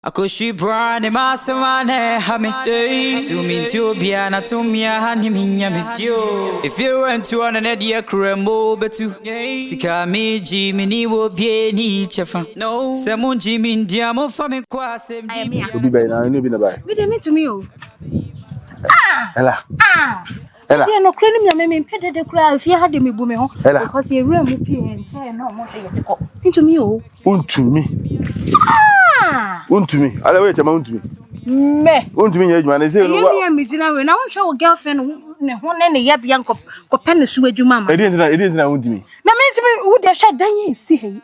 Akɔhwi braa ne ma asɛm a na ɛha me So mentie obiara na to mmea ha ne me nya me Efie rɛntu ɔno ne deɛ kura mu o bɛtu Sika a megye meni wɔ obiara ni kyɛfa Sɛ mongye me ndi a momfa me nkɔ asɛmdi bea Obi bɛn na ɛnyɛ obi na ɛbaeɛ? Me deɛ mentumi o. Ella. Ella. Ɛdeɛ nokorɛ no nyame me mpɛ dede koraa efie ha de me bu me ho. Ella. Because yɛ wura mu pii nkyɛn na ɔmo de yɛ de kɔ. Ntumi o. Untumi. Ah! Untumi. Ale woyɛ kyɛma untumi. Mɛ. Untumi nyɛ adwuma ne se. Ɛyɛ mi a me gyina wei na wonhwɛ wo girlfriend ne ho ne ne yɛbea nkɔ kɔpɛ ne so adwuma ma. Ɛdeɛ ntina ɛdeɛ ntina untumi. Na me ntumi wo de hwɛ dan yi si hɛ.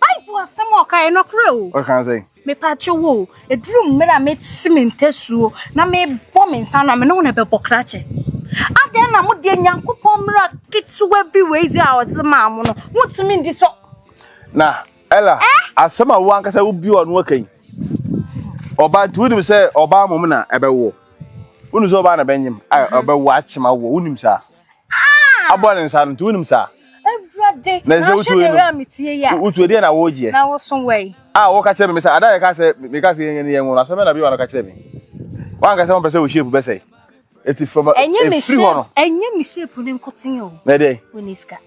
Bible asɛm a ɔkaeɛ no nokorɛ o. Ɔkaa sɛ. Mepaakyɛ wo o, ɛduru mmerɛ a mɛsi me ntasuo na mebɔ me nsa no a, me ne wo na ɛbɛbɔ krakye. Adɛn na mo deɛ Nyankopɔn mmara ketewa bi wei deɛ a ɔdze maa mo no, montumi ndi so? Na Ella, eh? asɛm a wo ankasa wobi wɔ ano aka yi, ɔbaa nti wonim sɛ ɔbaa mmom na ɛbɛwoɔ. Wonim sɛ ɔbaa na ɛbɛnyem, ɔbɛwo akyema woɔ, wonim saa. abɔ ne nsa no nti wonim saa. Awurade, na ɛsɛ wotu wei no. Na metie yi a. Wotu ɛdeɛ na wɔregyeɛ. Na wɔso wei. A wɔka kyerɛ me me sɛ ada yɛka sɛ meka sɛ yɛnyɛ ne yɛn nworo asɛm bɛ na bi wa no ka kyerɛ me. Wanka sɛ wɔmpɛ sɛ wɔhyia epu bɛsɛe. Eti from efiri hɔ no. Ɛnyɛ me hyia epu ne nkoten o. Na ɛdeɛ. Wɔni sika.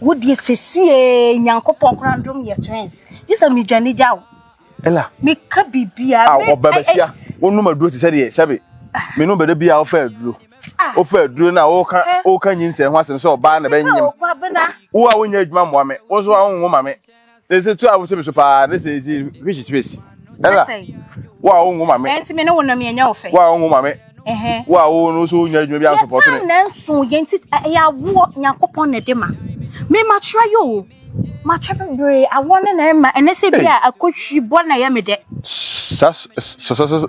Wodeɛ sesie nyankopɔn koraa ndom yɛ twins. Gye sɛ medwane gya o. Ela. Meka biribiara. A wɔbɛbɛhyia. Wɔnom aduro te sɛ deɛ sɛbe. Menom bɛda biara wɔfɛ aduro. wofa aduro no a woka woka nyinsɛn ho asɛm sɛ ɔbaa na bɛnyem wo a wonyɛ adwuma mmoa me wo nso a wonwo ma me na ɛsɛ tu a wosɛ me so paa na sɛ ɛsi which is face ɛna wo a wonwo ma me ɛnti me ne wo nam yɛnyɛ wo fɛ wo a wonwo ma me wo a wo no so wonya adwuma bi ansopɔto me yɛtaa nso yɛnti ɛyɛ awoɔ nyankopɔn na ɛde ma me makyerɛ yɛ o makyerɛ bebree awoɔ no na ɛma ɛnɛ sɛ bi a akɔhwi bɔ na ɛyɛ me dɛ sasasasa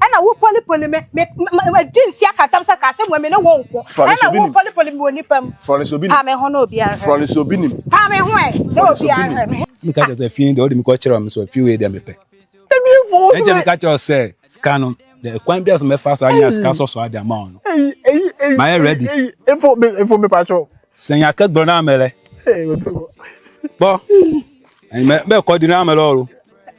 ɛna wo poli poli me me ma di nsi akatam sɛ kaa sɛ mmom me ne wo nko ɛna wo poli poli me wɔ nipa mu pa me ho na obi ahwɛ fɔle sɛ obi nim pa me ho ɛ na obi ahwɛ me mi ka kyerɛ sɛ fie deɛ ɔde mi kɔ kyerɛ ɔmo sɛ fie wei deɛ mi pɛ ɛkyɛ mi ka kyerɛ sɛ sika no deɛ kwan bi a so mɛfa so anya sika sɔsɔ adi ama ɔno ma yɛ ready efo mi efo mi pa kyɛw sɛn yɛ akɛgbɛrɛ naa mɛlɛ bɔ mɛ bɛ kɔ di naa mɛlɛ ɔro.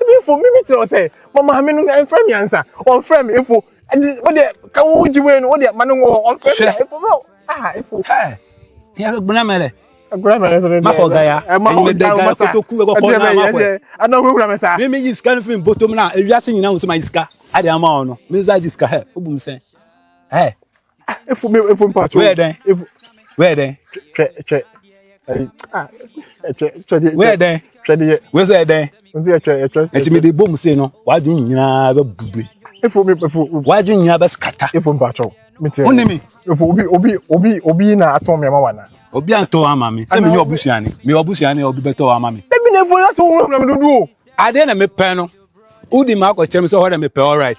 Ebi mfo mi bi kyerɛ sɛ ma maame no mfrɛ me ansa ɔmfrɛ me mfo wodeɛ ka wo gye wei no wodeɛ ma no wɔ hɔ ɔmfrɛ me mfo bɛ aha mfo gbona mɛlɛ gbona mɛlɛ sɛ deɛ makɔ gaya ɛnyɛ dɛ gaya kotoku bɛ kɔkɔ na makɔ yɛ ɛna ɔmo kura mɛ saa mi mi yi sika no fi mi bɔtɔ mu na ewia se nyina wusu ma yi sika adi ama wɔn no mi nsa di sika hɛ o bu mi sɛn hɛ ah efu mi efu mi pato wɛɛ dɛn efu wɛɛ dɛn twɛ twɛ ayi ah twɛ twɛ de wɛɛ dɛn twɛ de yɛ wɛɛ sɛ dɛn n sɛ twɛ twɛ ɛti mi de bom se no w'adwene nyinaa bɛ bube efu mi efu w'adwene nyinaa bɛ kata efu mi pato mi tiɛ o ne mi efu obi obi obi obi na atɔn mi ama wa na obi atɔ ama mi sɛ mi yɛ ɔbusuani mi yɛ ɔbusuani obi bɛ tɔ ama mi. ebi na efu ɛna sɛ ohun ɛna mi dodo. adeɛ na mi pɛ no wodi mu akɔkyerɛ mi sɛ ɔhɔ na mi pɛ all right.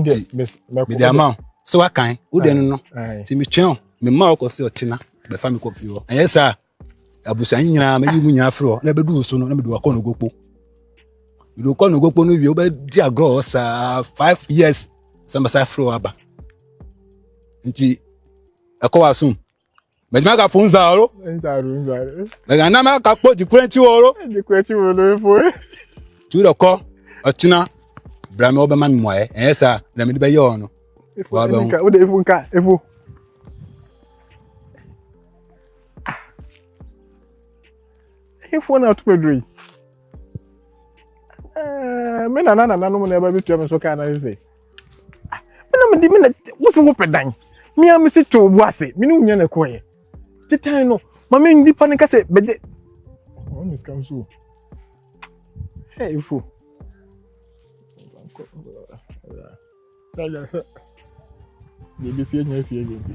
nti mede ama wo sɛ woakan wode no no nti metwɛn o mema wokɔ sɛ ɔtena bɛfa me kɔ fie hɔ ɛnyɛ saa abusua nyinaa mɛyi mu nyinaa frɛ hɔ na ɛbɛdu wo so no na mede wakɔ no gokpo mede wokɔ no gokpo no wie wobɛdi agorɔ hɔ saa five years sɛ mɛsa frɛ hɔ aba nti ɛkɔ w'asom Mɛgyina ka fun zaaro. Nzaaro nzaaro. Mɛgyina na mɛ ka kpo dikura ti wɔro. Dikura ti wɔro efo. Tu dɔ kɔ ɔkyina bra mi ɔbɛ ma mi mɔɛ ɛyɛ sa na mi de bɛ yɛ ɔno. Efo ɛni nka o de efo nka efo. Efo na ɔtɔ duro yi. Ɛɛ mi nana nana nom na ɛbɛ bi tua mi so kaa na ɛsɛ. ah me na me de me na wo so wopɛ dan me a me se to wo ase me ne wo nya na ɛkɔ yɛ te tan no ma me nipa no ka sɛ bɛgye wɔn ne sika nso ɛ efo na yɛ hwɛ deɛ ebi si enya si enya bi.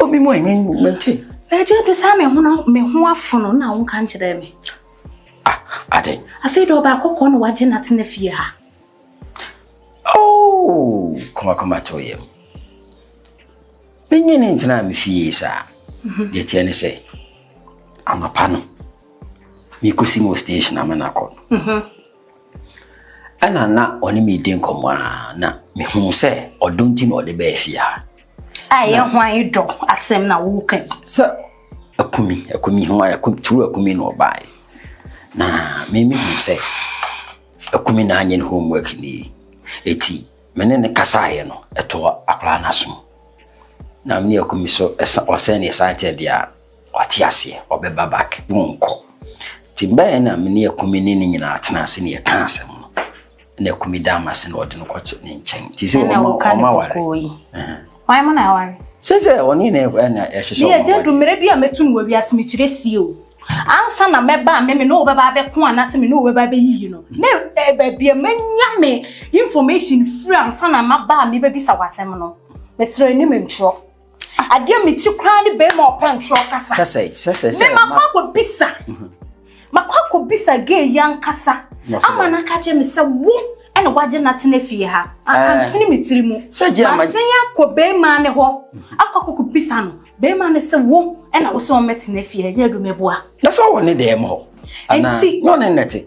Obi mu ɛnyɛ mɛnti. Ɛgye bi saa me ho me ho afono na wo nka nkyerɛ me. Ah, ade. Afei dɛ ɔba akɔkɔ na wagye na tena fie ha. Oh, koma koma to yam. Menye ne ntena me fie saa. Mhm. Deɛ teɛ ne sɛ, amapa no, mekɔsi mu station ama no akɔ no. Mhm. Ɛna na ɔne me redi nkɔmmɔ a na mehuu sɛ ɔdɔ nti na ɔde bɛɛ fie ha. A ɛyɛ hwan dɔ asɛm na woka yi? Sɛ akumi akumi ho akumi turu akumi na ɔbae na me mehu sɛ akumi na anyɛ ne homework ni eti me ne ne kasaeɛ no ɛtɔ akwaraa no asom na me ne akumi so ɔsɛn ne ɛsan kyɛ deɛ a Wate aseɛ? Ɔbɛba back. Wonkɔ. Nti mbaeɛ na me ne Akumi ne ne nyinaa tena ase na yɛka asɛm no. Na Akumi da ama se na ɔde no kɔte ne nkyɛn. Nti sɛ wɔma wɔma ware. Ɛna woka ne kɔkɔɔ yi. Wɔn mo na aware. Sɛ sɛ ɔne na ɛhyehyɛ wɔn aware. Ne yɛ gye du mmerɛ bi a mɛtu no wɔ wiase mekyerɛ sie o. Ansa na mɛba a me me ne wo bɛba abɛko anaasɛ me ne wo bɛba abɛyiyi no. Ne baabi a mɛnya me information firi ansa na maba a mebɛbisa w'asɛm no. Mesrɛ anim ntwerɛ. adeɛ mekyi koraa ne bɛrima ɔpɛ ntorɔ kasa sɛsɛe sɛsɛe sɛ mema kɔ akɔbisa mhm. makɔ akɔbisa gay yi ankasa ama no aka kyerɛ me sɛ wo ɛna wagye natena fie ha akansene eh. me tiri mu masen akɔ bɛrima ne hɔ mhm. akɔ akɔkɔbisa no bɛrima ne sɛ wo ɛna wo sɛ wɔmɛtena fie ɛyɛ adwuma boa na sɛ wɔ ne dɛm hɔ nti na ɔne nnɛte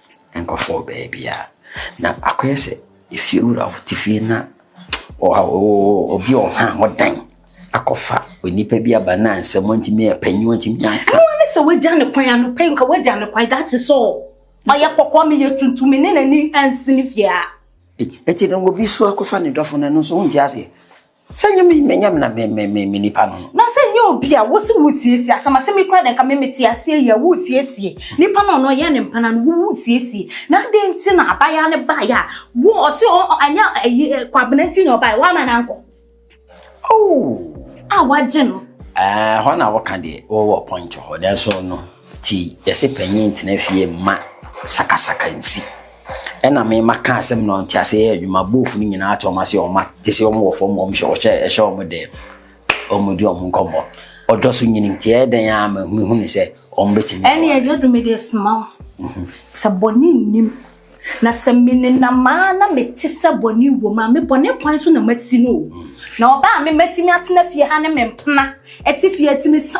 Nkurɔfoɔ wɔ baabiara. Na akɔyɛ sɛ efiewura te fie na ɔɔ obi ɔha ho dan akɔfa onipa bi aba na nsɛm ntumi yɛ panyin ntumi yɛ nka. Ɛno ne sɛ wagya ne kwan ano pɛ nka wagya ne kwan that is all. Ɔyɛ kɔkɔɔ meyɛ tuntum me ne n'ani ansi ne fie a. Eti na obi so akɔfa ne dɔfo no ɛno nso wonte aseɛ. Sɛ nyɛ me me nyam na me me me me nipa no no. Na sɛ nyɛ obi a wosi wosiesie asɛm asɛm yi kura de nka me me te aseɛ yi a wosiesie nipa no a ɔno ɔyɛ ne mpana no wo wosiesie na adɛn nti na abaayaa no baeɛ a wo ɔse ɔ anyɛ ayi kwabena nti na ɔbaeɛ woama no ankɔ oh a wagye no. Ɛɛ hɔ na woka deɛ wowɔ point hɔ nanso no. Nti yɛse panyin ntena fie mma sakasaka nsi. Ɛna me maka asɛm na ɔnte ase yɛ adwuma, boofo no nyinaa te wɔn ase wɔn ma gye sɛ wɔn wɔ fam wɔn hyɛ wɔhyɛ ɛhyɛ wɔn dɛ wɔn di wɔn nkɔmmɔ. Ɔdɔ so nyini nti ɛyɛ dɛn a ma hu hunu sɛ wɔn bɛtumi. Ɛne agya du me de soma wo. Mhm. Sɛ bɔne nnim na sɛ menenam a na mete sɛ bɔne wɔ mu a me bɔne kwan so na masi no o. Mhm. Na ɔbaa me matumi atena fie ha ne me mpena ɛte fie atumi sa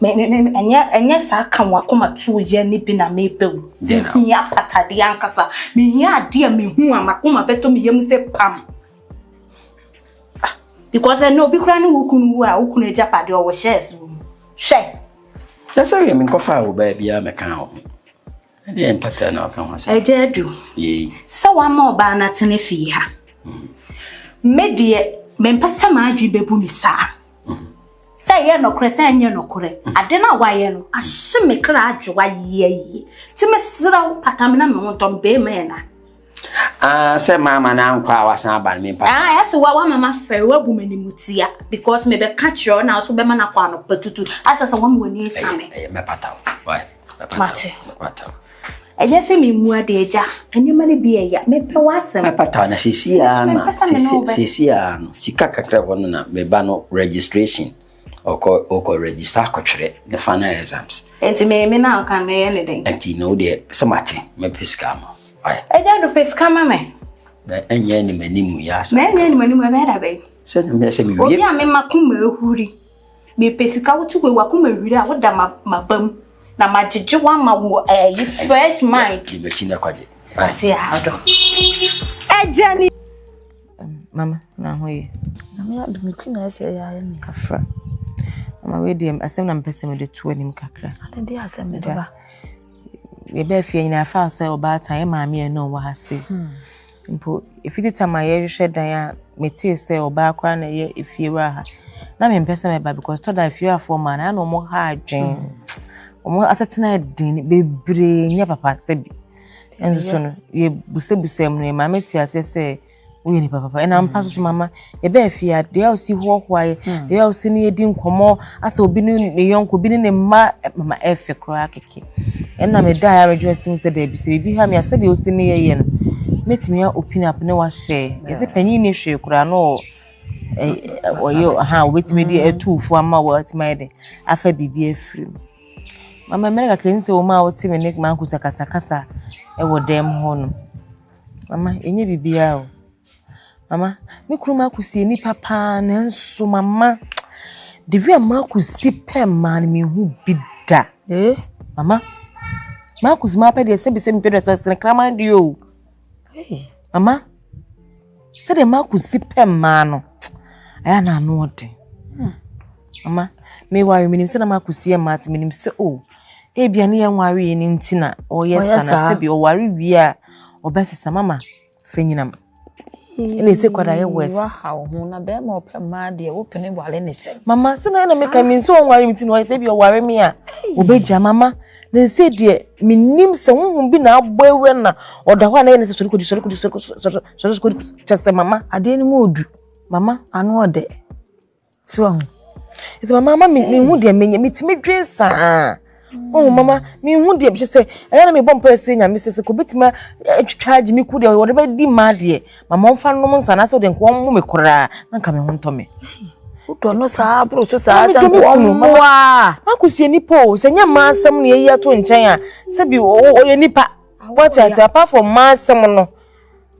Me me me ɛnyɛ ɛnyɛ saa ka wɔn akoma tuo yɛ ne bi na meba o. Mehia patadeɛ ankasa. Mehia adeɛ a mehu a makoma bɛtɔ me yam sɛ pam. Ah, because ɛnna obi koraa ne wo kunu wu a wo kunu agyapadeɛ ɔwɔ hyɛɛs wɔ mu. Hwɛ. Yɛ sɛ yɛ menkɔfaa wo baabiara mɛka wo ho. Ɛdeɛ mpata na ɔka ho asɛm. Agya adu. Yei. Sɛ wama ɔbaa no atena fie ha. Mm. Me deɛ mempɛ sɛ m'adwene bɛbu me saa. Mm. Sɛ ɛyɛ nokorɛ sɛ ɛnyɛ nokorɛ. Mm. Ade no a wayɛ no ahye me kra adwowa yie yie. Nti mesrɛ wo pata me na me ho ntɔ me bɛrima yɛ na. Ah, sɛ maama no ankɔ a wasan aba no mempata. Ah, ɛyɛ sɛ wama mafɛre wabu m'animutia because mebɛka kyerɛ wo na wo so bɛma no akɔ anɔpa tutu. Asɛ sɛ wama w'ani asame. Ɛyɛ mɛpata wo. mate ɛnyɛ sɛ memmu ade agya nneɛma no bi ɛya mepɛ w'asɛm pata na sesiaa na sesiaa no sika kakra hɔ no na meba no registration ɔkɔ ɔkɔ register akɔtwerɛ ne final exams nti me me na ɔka mɛyɛ ne dɛn nti na wodeɛ sɛ mate mɛpɛ sika ma agya do pɛ sika ma me na ɛnyɛ animanim yɛ asa na ɛnyɛ animanim ɛbɛyɛ da bɛyi sɛ mewie obi a mema koma ahuri Mepɛ sika wo to wei wakoma wira a woda maba mu na magyegye wo ama wo ɛyi eh, fresh mind. Di m'akyi na kwagye. Ate ahado. Ɛgya ni. Mama na ho ye. Na me adu me ti na ɛsɛ ɛyɛ ayɛ me. Afra. Mama wei deɛ asɛm na mpɛ sɛ mede to anim kakra. Ade de asɛm mede ba. Yɛbɛɛ fie nyinaa fa sɛ ɔbaatan yɛ maame ɛna ɔwɔ ha se. Hmm. Mpo ɛfiti tam a yɛhwehwɛ dan a metee sɛ ɔbaa koraa na ɛyɛ efiewura ha na mempɛ sɛ mɛba because tɔ da efiewurafoɔ maa na na wɔn ha adwen wɔn mm. asetena den bebree nyɛ papa sɛ bi ɛnso so no yɛbusabusam no maame te aseɛ sɛ woyɛ nipa papa ɛna mpa soso mama Yɛbaa fie a, deɛ a ɔsi hoahoaeɛ, hmm. deɛ a ɔsi ne yɛdi nkɔmmɔ, asɛ obi ne ne yɔnko, obi ne ne mma, eh, mama ɛfɛ eh, koraa kɛkɛ. Ɛna meda a yɛaredwo asi mu sɛ daabi sɛ biribi ha me a sɛdeɛ ɔsi ne yɛyɛ no, mɛtumi a open up ne wahyɛ. Yɛsɛ panyin ne hwee koraa no ɔyɛ ha a wɔbɛtumi de hmm. atu fo ama wɔatumi ayɛ de afa biribi afiri mu. Mama mmerɛ kakra ni sɛ wɔn a wɔte me ne m'ankosakasakasa wɔ dɛm hɔ no. Mama, ɛnyɛ biribiara o. Mama, me kunu Marcus yɛ nipa paa nanso mama the way a Marcus si pɛ mmaa no mehu bi da. Eh? Mama, Marcus maa pɛ deɛ sɛbi sɛbi pɛ deɛ sɛ sene kraman deɛ o. Mama, sɛdeɛ Marcus si pɛ mmaa no ɛyɛ na ano ɔden. Hmm. Mama, me wa menim sɛ na Marcus si yɛ mmaa sɛ menim sɛ o. Oh, ebia ne yɛn ware yɛ ne nti na ɔyɛ sa na sɛbi ɔware wie a ɔbɛsesa mama. Fanyinam. Ɛna ɛsɛ kwada yɛ wɛs. Waha wo ho na bɛrima ɔpɛ mmaa deɛ wopene wale ne sɛn. Mama sɛ na ɛna meka me nso ɔnware me ti na ɔyɛ sɛ bi ɔware me a ɔbɛgya mama na ɛsɛ deɛ menim sɛ honhom bi na abɔ awura na ɔda hɔ a na yɛ ne sɛ sɔre kɔdi sɔre kɔdi sɔre kɔdi sɔre kɔdi kyɛ sɛ mama. Adeɛ no mu ɔdu mama ano ɔdɛ. So wahu? Ɛsɛ mama ama mehu deɛ menyɛ metumi dwen saa ɔhu mama mehu deɛ kyɛ sɛ ɛyɛ na mebɔ mpaeɛ sɛ nyame sɛ sɛ kɔbɛtumi atwitwa agye me ku deɛ wɔde bɛdi ma deɛ mama ɔmfa nom nsa na sɛ ɔde nka ɔmmo me koraa na nka me ho ntɔ me wotɔ no saa boro so saa sɛ mmoa makosie nipa o sɛ nyɛ mmaa asɛm na yɛyi ato nkyɛn a sɛbi ɔyɛ nipa wate ase apart from mmaa asɛm no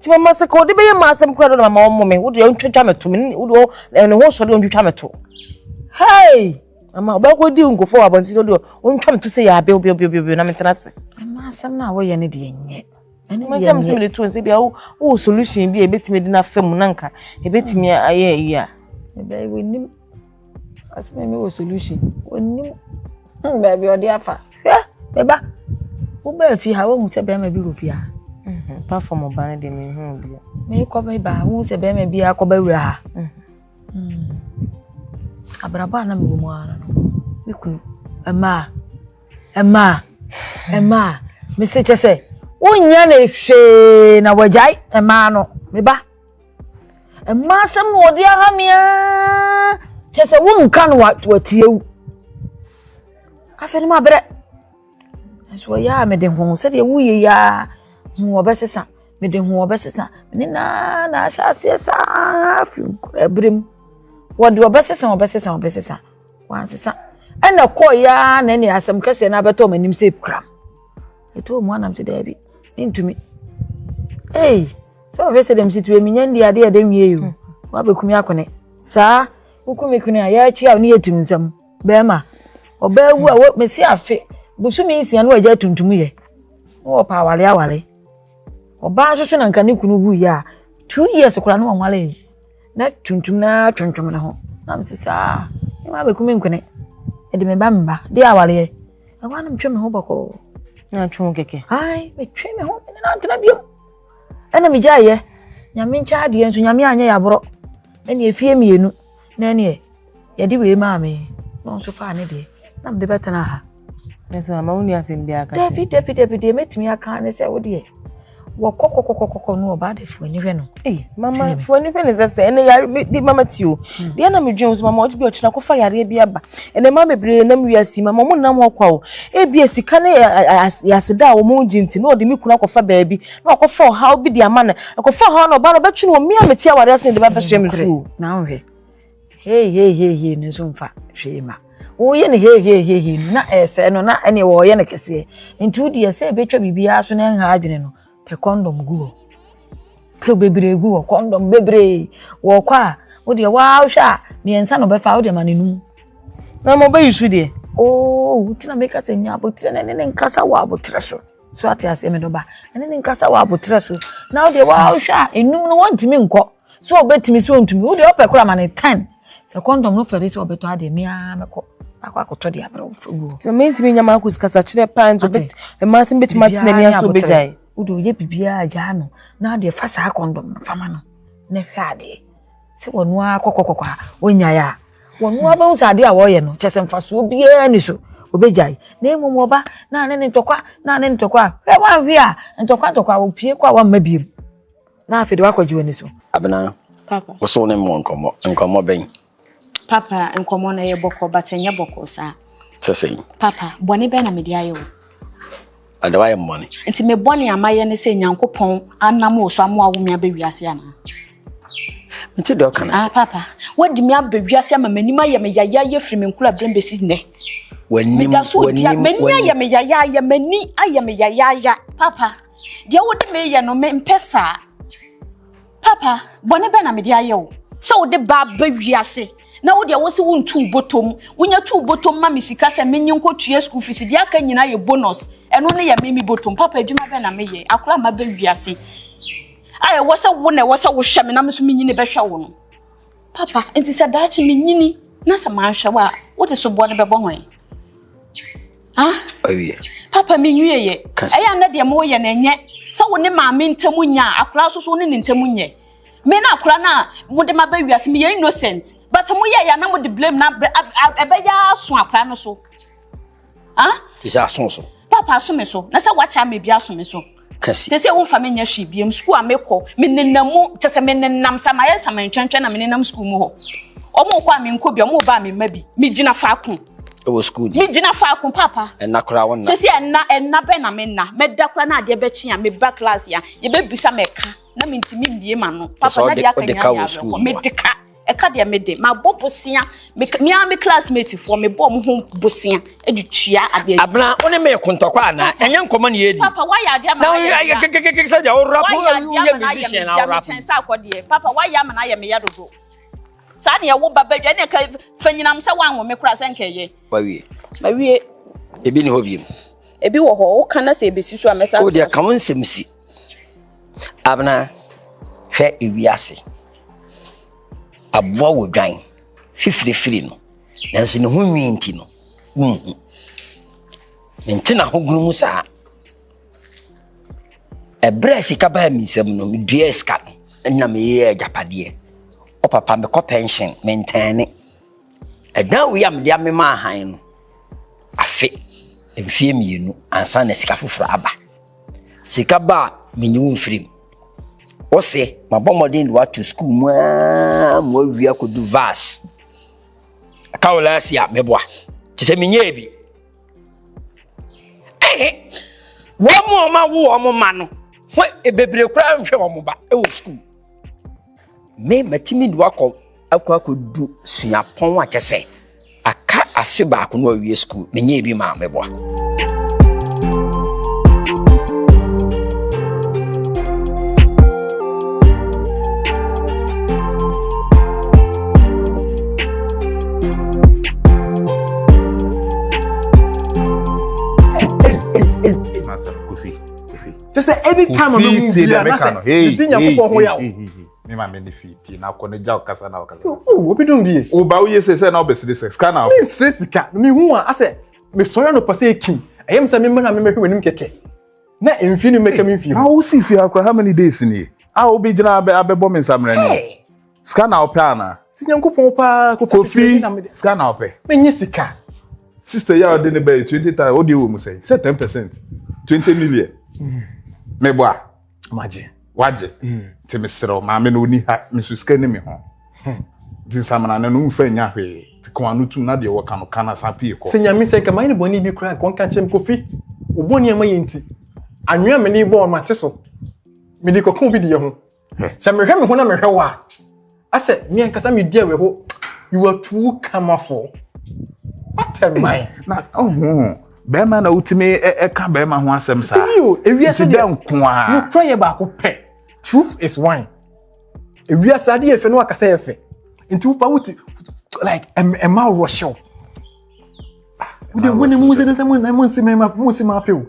Ti ma ma sika ɔde bɛyɛ ma asɛm kura do na ma ma ɔmo me wode ɔntwitwa me to me wode ɔ ɛne ho sɔre ɔntwitwa me to hey ama ɔbɛkɔ di nkɔfo wɔ abɔnten ɔde ɔntwa me to sɛ yɛ abe obi obi obi na me tena se ɛma asɛm no a wɔyɛ no deɛ nyɛ ɛne deɛ nyɛ mɛsɛ me de to nse bia wo wo solution bi a ebetumi de na fam nanka ebetumi ayɛ yi a ɛbɛyɛ wɔ nim Ɔsi mi mi wɔ solution. Onim hmm, baabi ɔde afa. Hwɛ me ba wobaa fie ha wohu sɛ bɛrima bi wɔ fie ha. Mhm. Pa fam ɔba no de mi hu bi. Mi kɔ mi ba wohu sɛ bɛrima bi akɔ bɛ wura ha. Mhm. Hmm. Abrabɔ a na mi wɔ mu ara no mi kunu ɛmaa ɛmaa ɛmaa mi se kyɛ sɛ wonya ne hwee na wɔgyae ɛmaa no me ba. Mmaa asɛm na wɔde aha me aa kyɛ sɛ wonka no watie wo afei no mabrɛ nso ɔyɛ a mede ho sɛdeɛ woyɛ yi a ho wɔbɛsesa mede ho wɔbɛsesa ne naa na ahyɛ aseɛ saa firi nkora berɛ mu wɔde wɔbɛsesa wɔbɛsesa wɔbɛsesa wansesa ɛna kɔɔ yɛ a na ɛne asɛm kɛseɛ no abɛtɔ m'anim sɛ kura ɛtɔɔ mu anam sɛ daabi mentumi ei sɛ ɔhwɛ sɛ dɛm situe menya ndi adeɛ ɛdɛ nwie yi o hmm. woabɛkumi akone saa wokumi kone a yɛatwi a ne yɛtim nsɛm bɛrima ɔbaa wu a mɛsi afe bosome nsia no agya tuntum yɛ na wɔpɛ awale awale ɔbaa nso so na nka ne kunu wu yɛ a two years koraa ne wɔnwale yi na tuntum no ara twentwem ne ho na mese saa mema bɛku me nkwene ɛde me ba meba de awareɛ ɛhɔ a na metwe me ho bɔkɔɔ na atwe ho kɛkɛ ai metwe me ho ne nantena biom ɛna megyaeɛ nyame nkyɛ adeɛ nso nyame anyɛ yɛaborɔ ɛne ɛfie mmienu na ɛneɛ yɛde wei maa me na ɔno nso faa ne deɛ na mede bɛtena ha ɛsɛ ama wo ni asɛm bi aka dabi dabi dabi deɛ mɛtumi aka ne sɛ wo deɛ wɔkɔ kɔkɔkɔkɔ no ɔba de fuani hwɛ no mama fuani hwɛ no sɛ sɛ ɛnɛ yare di mama ti o hmm. deɛ na medwen sɛ mama ɔgye bi ɔkyena kɔfa yareɛ bi aba ɛnɛ ma bebree nam wiase mama ɔmo nam hɔ kwa o ebia sika ne yɛaseda a ɔmo gye nti na ɔde me kunu akɔfa baabi na ɔkɔfa ɔhaw bi de ama no ɛkɔfa ɔhaw no ɔba no ɔbɛtwe no ɔmia mete awareɛ ase ne de bɛbɛhyɛ me so o na wohwɛ Heeheeheehee no nso mfa hwee ma. Woyɛ no heeheeheehee no na ɛsɛe no na ɛne wɔyɛ no kɛseɛ. Nti wo deɛ sɛ ɛbɛtwa biribiara so na ɛnha adwene no, pɛ kɔndɔm gu hɔ. Pɛ bebree gu hɔ, kɔndɔm bebree. Wɔkɔ a, wo deɛ waa wohwɛ a mmiɛnsa na ɔbɛfa wo deɛ ma no num. Na ma ɔbɛyi so deɛ. Oo, nti na meka sɛ nya abotire na ɛne ne nkasa wɔ abotire so. So ate aseɛ me dɔba? Ɛne ne nkasa wɔ abotire so. Na wo deɛ waa wohwɛ a enum no wɔntumi nkɔ. sɛ ɔbɛtumi sɛ ɔntumi wo deɛ ɔpɛ kora ma no ten sɛ kɔndɔm no fɛre sɛ ɔbɛtɔ adeɛ me ara mɛkɔ akɔ akɔtɔ deɛ abrɛ wo fɛ wuo sɛ mentumi nya maakɔsi kasakyerɛ paa nti mmaa sɛ bɛtumi atena ni aso bɛgyae wode ɔyɛ biribiaa gyaa no na adeɛ fa saa kɔndɔm no fama no na hwɛ adeɛ sɛ wɔno ara kɔkɔkɔkɔ a ɔnyae a wɔno ara bɛhu sɛ adeɛ a wɔyɛ no kyɛ sɛ mfasoɔ biara ni so ɔbɛgyae na mmom ɔba na ne ne ntɔkwa na ne ntɔkwa a hwɛ wanhwe a ntɔkwa ntɔkwa wɔpie kɔ a wamma biom Na afei de wakɔgye w'ani so. Abena, Papa. wosow ne mmɔ nkɔmmɔ. Nkɔmmɔ bɛn? Papa, nkɔmmɔ no yɛ bɔkɔ but ɛnyɛ bɔkɔ saa. Sɛ sɛn? Papa, bɔne bɛn na mede ayɛ wo? Ada wayɛ mmɔne. Nti me bɔne a mayɛ ne sɛ Nyankopɔn anam wo so ama wawo me aba wiase anaa? Nti deɛ ɔka no Ah, sɛ papa, wadi me aba wiase ama m'anim ayɛ me yayaayɛ firi me nkuraberem bɛsi nnɛ. w'anim Meda so di a w'anim m'ani ayɛ w'anim me yayaayɛ m'ani ayɛ me yayaayɛ papa. Deɛ wode me yɛ no me mpɛ saa. Papa, bɔne bɛn na mede ayɛ wo? Sɛ wode ba ba wiase na wo deɛ wo se wontu botom. Wonya tu botom ma me sika sɛ menye nkɔtua school fees. Deɛ aka nyinaa yɛ bonus. Ɛno ne yɛ me me botom. Papa, adwuma bɛn na meyɛ? Akora a maba wiase a ɛwɔ sɛ wo na ɛwɔ sɛ wohwɛ me na me nso menyi ne bɛhwɛ wo no. Papa, nti sɛ daakye menyini na sɛ manhwɛ wo a, wode soboɔ no bɛbɔ hwan? Awie. Papa menwie yɛ. Ɛyɛ a na deɛ mo yɛ no ɛnyɛ sɛ wo ne maame ntam nya a akora nso so wo ne ne ntam nyɛ. Me na akora no a mode ma bɛ wiase meyɛ innocent. But mo yɛ yɛ na mode blame na ɛbɛyɛ aso akora no so. Ah? Te sɛ aso so. Papa aso me so. Na sɛ wakyɛ ama bi aso me so. Kasi. Te sɛ womfa me nyɛ hwee biam sukuu a mekɔ. Me nenam mu kyɛ sɛ me nenam sɛ mayɛ samantwantwa na me nenam sukuu mu hɔ. Ɔmo kɔ a menkɔ bi, ɔmo ba a memma bi. Megyina faako. Ɛwɔ sukuu ni. Megyina faako papa. Ɛna koraa wonna. Sɛ sɛ ɛna ɛna bɛn na menna. Mɛda koraa na adeɛ bɛkye a meba class a yɛbɛbisa mɛka na mentumi mmie m'ano. Papa na deɛ aka nyinaa yɛ awerɛkɔ. Mede ka. ɛka deɛ me de mabɔ bosea me ara me classmate foɔ mebɔ ɔmo ho bosea de tua adeɛ. abena wo ne me kontɔkɔ ana ɛnyɛ nkɔmɔ ne yɛdi. papa wayɛ adeɛ ama ayɛ meya na kekekeke sɛ deɛ ɔwura po woyɛ musician na ɔwura po. sɛ akɔdeɛ papa wayɛ ama na ayɛ meya dodo saa ne ɛwo ba badwa ne ɛka fa nyinam sɛ wanwo me kora sɛ nkɛyɛ. wawie. mawie. ebi ne hɔ biem. ebi wɔ hɔ woka na sɛ ebesi so a mɛsa. o deɛ ka wo nsɛm si. Abena, hwɛ ewiase. Aboa wɔ dwan fifirifiri no, nanso ne ho nwi nti no, wunhu. Mente n'ahogono mu saa. Ɛberɛ a sika baa me nsam no, meduaa sika no na meyɛɛ agyapadeɛ. Ɔpapa mekɔ pɛnhyen, mentɛɛne. Dan wei a mede amemaa hann no afe, mfeɛ mmienu ansa na sika foforɔ aba. Sika ba a, menyi wo mfiri mu. Wo se, mabɔ mmɔden de woato sukuu mu ara ma woawie akɔdu vas. Ɛka wo laasi a, meboa. Te sɛ menyɛɛ bi. Ɛhe, wɔn a wɔawo wɔn ma no, hɔ bebree koraa nhwɛ wɔn ba wɔ sukuu. Me matumi de wakɔ akɔ akɔdu suapɔn a kyɛ sɛ aka afe baako no awie sukuu menyɛ ebi maa meboa kyɛ sɛ any time a bɛhu bi a na sɛ medi nyankopɔn ho yaw me ma me ne fii pii na akɔ ne gya ɔkasa na ɔkasa oh obi dum bie woba woyɛ sɛ sɛ na wobɛsere sɛ sika na me nsere sika mehu a asɛ mesɔre anɔpa sɛ ɛkim ɛyɛ m sɛ memmra memmɛhwɛ w'anim kɛkɛ na mfie no mmɛka me mfie ho na wosi fie akora how many days nie a wobɛgyina abɛbɔ me nsammerɛ ne Sika na ɔpɛ ana? Ti Nyankopɔn paa kofi. Kofi sika na ɔpɛ. Menye sika. Sister ya ɔde ne bɛyɛ 20 times ɔde wɔ mu sɛn sɛ 10 percent 20 million. Mm. Meboa. Magye. Wagye. Mm. Nti meserɛ maame no ɔni ha me so sika ni me ho. Hmm. Nti nsamana no no mfa nya hwee. Nti kɔn ano tum na deɛ wɔka no ka na san pie kɔ. Sɛ nyame sɛ nka mayɛ ne bɔne bi koraa nka ɔnka kyerɛ me kofi wobɔne a mayɛ nti anwea mene bɔɔ no mate so mede kɔka obi deɛ ho Sɛ mehwɛ me ho na mehwɛ wo a, asɛ me ankasa me di awerɛho. You are too kamafo. What a man. Na ɔho bɛrima na wotumi ɛka bɛrima ho asɛm saa. Ebi o ewiase deɛ nko a. Nukura yɛ baako pɛ. Truth is one. Ewiase adeɛ yɛ fɛ na wakasa yɛ fɛ. Nti wopa wote like ɛma wɔhyɛw. wode wone mu sɛ sɛ monse mɛma monse mape o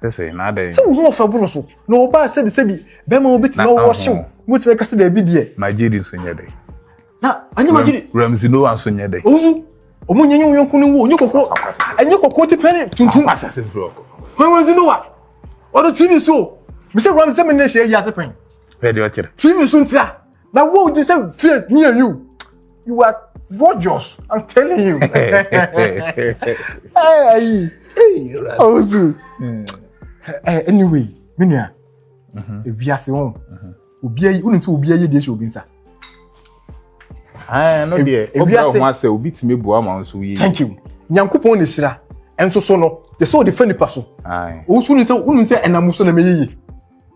sɛ wo ho ɔfɛ boro so na ɔbaa sɛbi sɛbi bɛma wobɛtumi awɔ hyew wobɛtumi ɛka sɛ daabi deɛ magyedi nso nyɛ dɛ na anyɛ magyedi ramsi no anso nyɛ dɛ owu ɔmo nyɛ nyɛ wo yɔnko no wu ɔnyɛ kɔkɔ ɛnyɛ kɔkɔ ti pɛne tuntum ramsi no wa ɔno tv so mesɛ ramsi sɛ mene hyɛ ayi ase pɛn tv so ntia na wo gye sɛ fears me and you you are gorgeous i'm telling you ayi ɔwusu anyway me nua ewiase ho obi ayi wonu ti obi ayi deɛ hyɛ obi nsa. ɛɛ no deɛ obìnrin ɔho asɛ obi tìmi bu ama nso yie. thank you nyankopɔn na esira nso so no yɛ sɛ ɔde fɛ nipa so owusu ni sɛ wonu sɛ ɛnam so na mɛ yeye.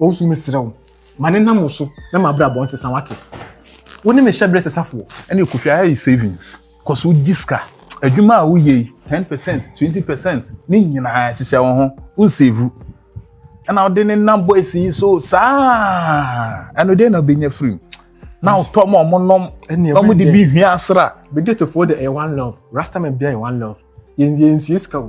Owusu mesrɛ wo ma ne nam wo so na ma abrabɔ nsesa wate wo ne me hyɛ berɛ sesafoɔ. Ɛne ɛkotwa ha yi savings kɔ so gye sika adwuma a woyɛ yi ten percent twenty percent ne nyinaa hyehyɛ wo ho wo nsevu ɛna wode ne nam boys yi so saa ɛno deɛ na wobɛnya firim na wotɔ ma ɔmo nom na ɔmo de bi hwia asra. Begetofoɔ de ɛyɛ one love rastaman bia yɛ one love. Yɛn deɛ nsie sika o.